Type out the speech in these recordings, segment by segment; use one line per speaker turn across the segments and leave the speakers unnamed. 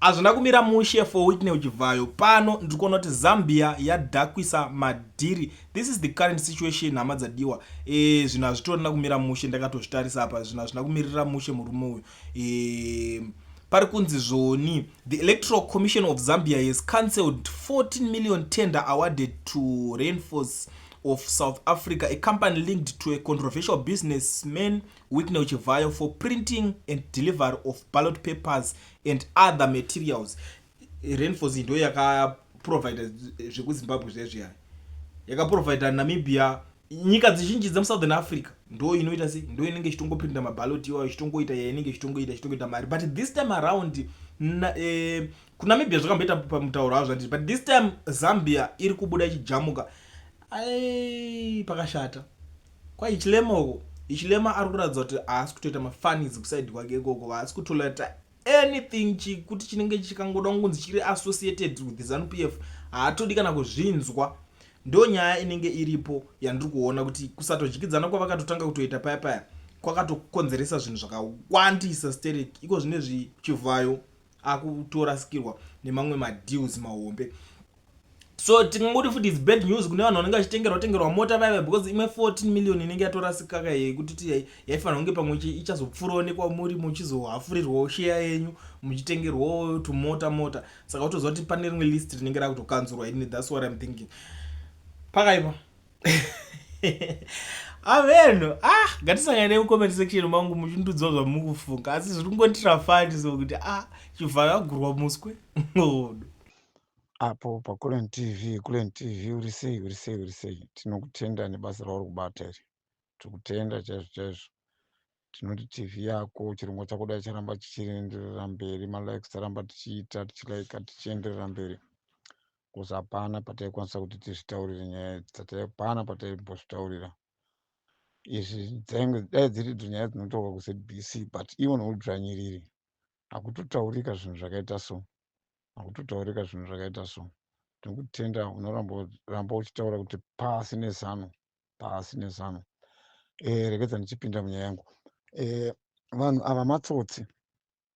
Hazvina kumira mushe for Whitney Uchivhayo pano ndiri kuona kuti Zambia yadhakwisa madhiri this is the current situation hama dzadiwa e, zvinhu hazvitorina kumira mushe ndakatozvitarisa apa zvinhu hazvina kumirira mushe murume uyu e, pari kunzi zvoni the electoral commission of zambia has cancelled 14 million tender awarded to rainforce of south africa a company linked to a controversial businessman whitney uchivhayo for printing and delivery of ballot papers and other materials rainforce ndo yakaprovider zvekuzimbabwe zvezviyani yakaprovider namibia nyika dzizhinji dzemusouthern africa ndo inoita se ndo inenge ichitongopinda mabalot iwayo ichitongoita yainenge ichitongoita ichitongoita mari but this time around na, eh, kunamibia zvakamboita pamutauro avo zvandii but this time zambia iri kubuda ichijamuka ai pakashata KwaHichilema uko Hichilema ari kuratidza kuti haasi kutoita mafunnies kuside kwake ikoko haasi kutolerata anything chikuti chinenge chikangoda kunzi chiri associated with zanu p f haatodi kana kuzvinzwa ndo nyaya inenge iripo yandiri kuona kuti kusatodyidzana kwavakatotanga kutoita paya paya kwakatokonzeresa zvinhu zvakawandisa sterek iko zvine zvichivhayo akutorasikirwa nemamwe madeals mahombe so tingangoti futi its bad news kune vanhu vanenge vachitengerwa tengerwa mota vaiva because imwe 14 million inenge yatorasikaka iye kutiti yaifanira kunge pamwe ichazopfuroonekwa muri muchizohafurirwawo sheya yenyu muchitengerwawo tumota mota saka utoziva kuti pane rimwe list rinenge rakutokanzurwa ini thats what im thinking pakaipa avenhu ah ngatisangane nemucomment section mangu muchindiudzwa zvamuri kufunga asi zviri kungonditira fani so kuti ah chivhayagurwa muswe ngodo
apo pakulen tv kulen tv uri sei uri sei uri sei tinokutenda nebasa rauri kubata iri tiri kutenda chaizvo chaizvo tinoti tv yako chirongwa chako dai charamba chichienderera mberi malikes taramba tichiita tichilaika tichienderera mberi bcause hapana pataikwanisa kuti tizvitaurire nyaya idzi dzataipana pataimbozvitaurira izvi dzainge dai dziri dzo nyaya dzinotaurwa kuzbc but ivo noudzvanyiriri hakutotaurika zvinhu zvakaita so hakutotaurika zvinhu zvakaita so tinokutenda unoramba uchitaura kuti pasi nezano pasi nezano e, eh, rekedza ndichipinda munyaya yangu e, vanhu ava matsotsi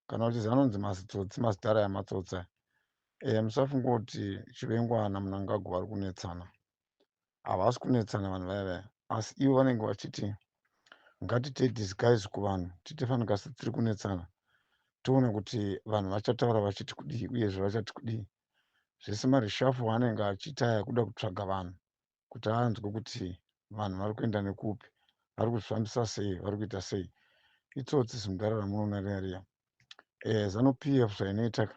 kana kuti zanonzi mazitsotsi mazidhara yamatsotsi e, eh, musafunga kuti chivengwana munangagwa vari kunetsana havasi kunetsana vanhu vaya vaya asi ivo vanenge vachiti ngatiite disguise kuvanhu tiite fanika setiri kunetsana toona kuti vanhu vachataura vachiti kudii uyezve vachati kudii zvese marishafo anenge achiita aya kuda kutsvaga vanhu kuti anzwe kuti vanhu vari kuenda nekupi vari kuzvifambisa sei vari kuita sei itsotsi zimudhara ramunoona riariya e, zanu p f zvainoitaka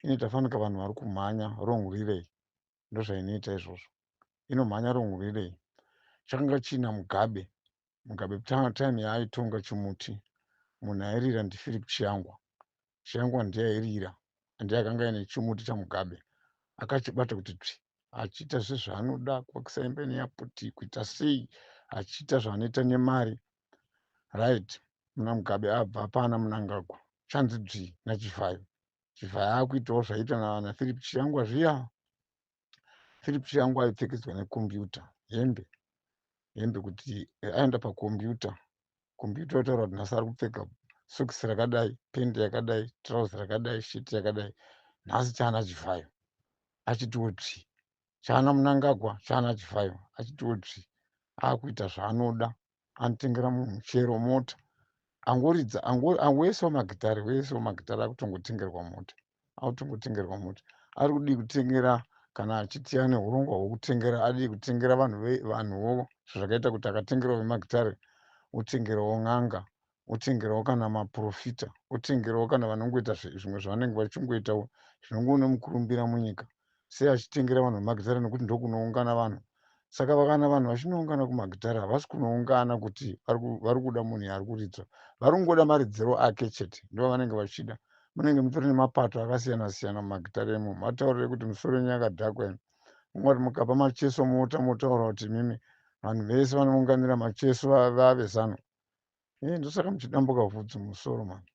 inoita fanika vanhu vari kumhanya rongwirei ndozvainoita izvozvo inomhanya rongwirei chakanga chiina mugabe mugabe time yaaitonga chimuti munhu airira ndiphilip chiyangwa chiyangwa ndiye airira andi akanga aine chimuti chamugabe akachibata kuti tsvi achiita zvezvaanoda kuakisa imba ine yaputi kuita sei achiita zvaanoita nemari right muna mugabe abva pana munangagwa chanzi dzvii nachivhayo chibva akuitawo zvaita navana philip chiyangwa zviya philip chiyangwa aipfekedzwa nekombiyuta hembe hembe kuti eh, aenda pakombiyuta kombiyuta otaura kuti nhasi ari kupfeka sokisi rakadai pendi yakadai trauzi rakadai sheti yakadai nhasi chana chivhayo achitiwo tsvi chana munangagwa chana chivhayo achitiwo tsvi akuita zvaanoda anotengera munhu chero mota angoridza angoesawo magitare oesawo magitare akutongotengerwa mota akutongotengerwa mota ari kudii kutengera kana achiti ane urongwa hwekutengera adii kutengera vanhu vanhuwo zvakaita kuti akatengerawo vemagitare otengerawo n'anga otengerawo kana maprofita otengerawo kana vanongoita zvimwe zvavanenge vachingoitawo zvinongove nemukurumbira munyika sei achitengera vanhu vemagitare nekuti ndokunoungana vanhu saka vakana vanhu vachinoungana kumagitare havasi kunoungana kuti vari kuda munhu yaari kuridzwa vari kungoda maridziro ake chete ndovanenge vachida munenge mutori nemapato akasiyana siyana mumagitare emo mataurire kuti musoro yenyu yakadhakwa imi mumwe kuti mukapa macheso mota motaura kuti imimi vanhu vese vanounganira macheso vave zano eh, ndosaka muchidambuka vhudzi musoro mani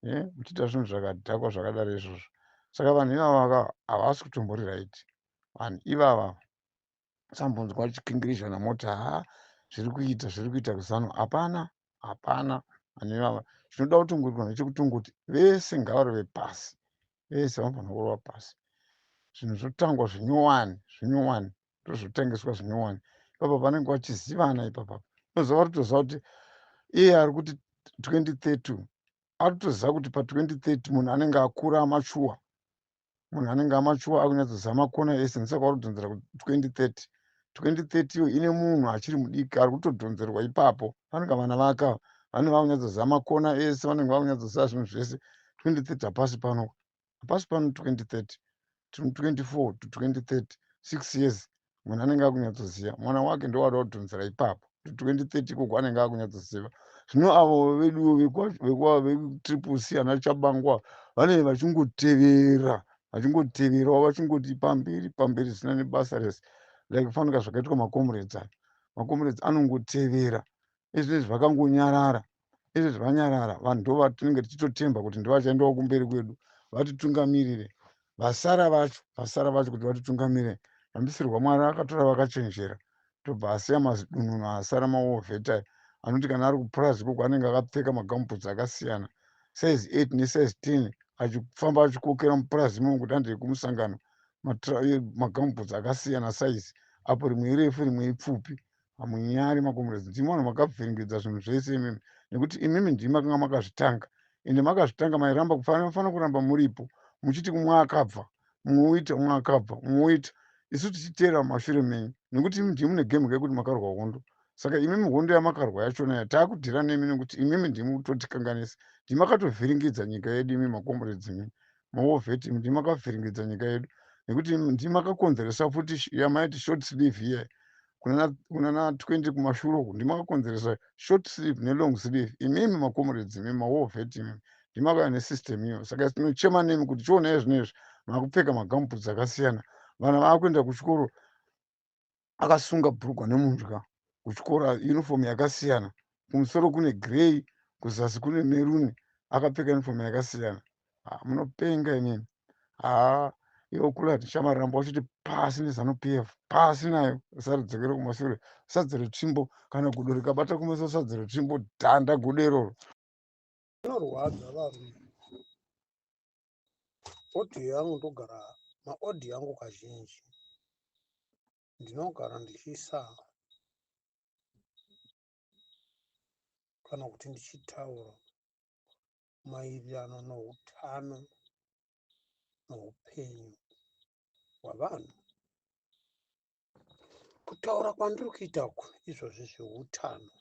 eh, muchiita zvinhu zvakadhakwa zvakadaro izvozvo saka vanhu ivavaka havasi kutombori right vanhu ivava sambonzwa chikingirizha namoti ha zviri kuita zviri kuita kuzano hapana hapana vanhu ivava chinoda kutongorwa nechekutongoti vese ngavaro vepasi vese vanofanira kurova pasi zvinhu zvotangwa zvinyowani zvinyowani ndozvotengeswa zvinyowani ipapa vanenge vachizivana ipapa inoziva ritoziva kuti iye ari kuti 2032 ari kutoziva kuti pa 2030 munhu anenge akura amachuwa munhu anenge amachuwa akunyatsoziva makona ese ndisaka wari kudhonzera ku 2030 2030 iyo ine munhu achiri mudiki ari kutodhonzerwa ipapo vanenge vana vaka vanenge vakunyatsoziva makona ese vanenge vakunyatsoziva zvinhu zvese 2030 hapasi pano hapasi pano 2030 tiri 24 to 2030 six years munhu anenge akunyatsoziva mwana wake ndowada kudhonzera ipapo to 2030 ikoko anenge akunyatsoziva zvino avo veduwo vekutriple c ana chabangwa vanenge vachingotevera vachingoteverawo vachingoti pamberi pamberi zvisina nebasa rese like fanika zvakaitwa macomrades aya macomrades anongotevera ezvinezvi vakangonyarara izvezvi vanyarara vanhu ndo vatinenge tichitotemba kuti ndivachaendawo kumberi kwedu vatitungamirire vasara vacho vasara vacho kuti vatitungamirire rambisirwa mwari akatora vakachenjera tobva asiya mazidununu asara maovhetai anoti kana ari kupurazi ikoko anenge akapfeka magamuputsi akasiyana size eight nesize ten achifamba achikokera mupurazi imomo kuti andei kumusangano magamuputsi akasiyana size apo rimwe irefu rimwe ipfupi hamunyari makomrades ndimi vanhu makavhiringidza zvinhu zvese imimi nekuti imimi ndimi makanga makazvitanga ende makazvitanga mairamba kufanira kuramba muripo muchiti kumwe akabva mumwe uita umwe akabva umwe uita isu tichiteera mashure menyu nekuti imi ndimi mune game kekuti makarwa hondo saka imimi hondo yamakarwa yachona ya taakudhira nemi nekuti imimi ndimi kutotikanganisa ndimi makatovhiringidza nyika yedu imi makomrades imimi mawar vetting ndimi makavhiringidza nyika yedu nekuti ndimi makakonzeresa futi yamaiti short sleeve iye kunana 20 kumashure uku ndimi makakonzeresa short sleeve nelong sleeve imimi macomrades imimi mawar vetting ndimi makauya nesystem iyo saka tinochema nemi kuti chionai zvino izvi makupfeka magamuputs akasiyana vana vakuenda kuchikoro akasunga bhurugwa nemudya kuchikoro uniform yakasiyana kumusoro kune grey kuzasi kune meruni akapfeka uniform yakasiyana ah, munopenga inini haa iwo kule ati chamarambo wachiti pasi nezanu p f pasi nayo usaridzokere kumashure sadza retsvimbo kana gudo rikabata kumeso sadza retsvimbo dhanda gudo iroro rinorwadza
varume audio yangu ndogara maaudio angu kazhinji ndinogara ndichiisa kana kuti ndichitaura maererano noutano noupenyu hwavanhu kutaura kwandiri kuita uku izvozvi zveutano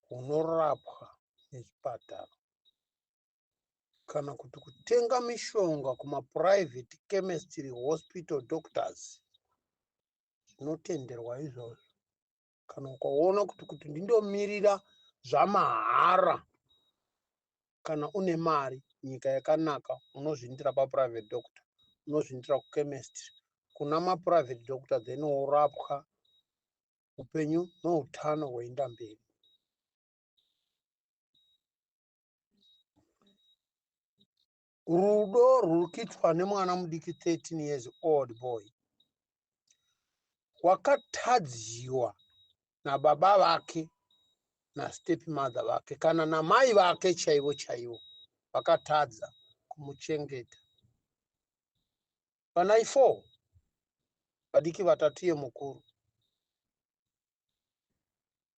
hunorapwa nechipatara kana kuti kutenga mishonga kumaprivate chemistry hospital doctors zvinotenderwa izvozvo kana ukaona kuti kuti ndindomirira zvamahara kana une mari nyika yakanaka unozviindira paprivate doctor unozviindira kuchemistry kuna maprivate doctor then worapwa upenyu noutano hwoenda mberi rudo rwuri kuitwa nemwana mudiki 13 years old boy wakatadziwa nababa vake nastep mother vake kana namai vake chaivo chaivo vakatadza kumuchengeta vanai four vadiki vatatu yemukuru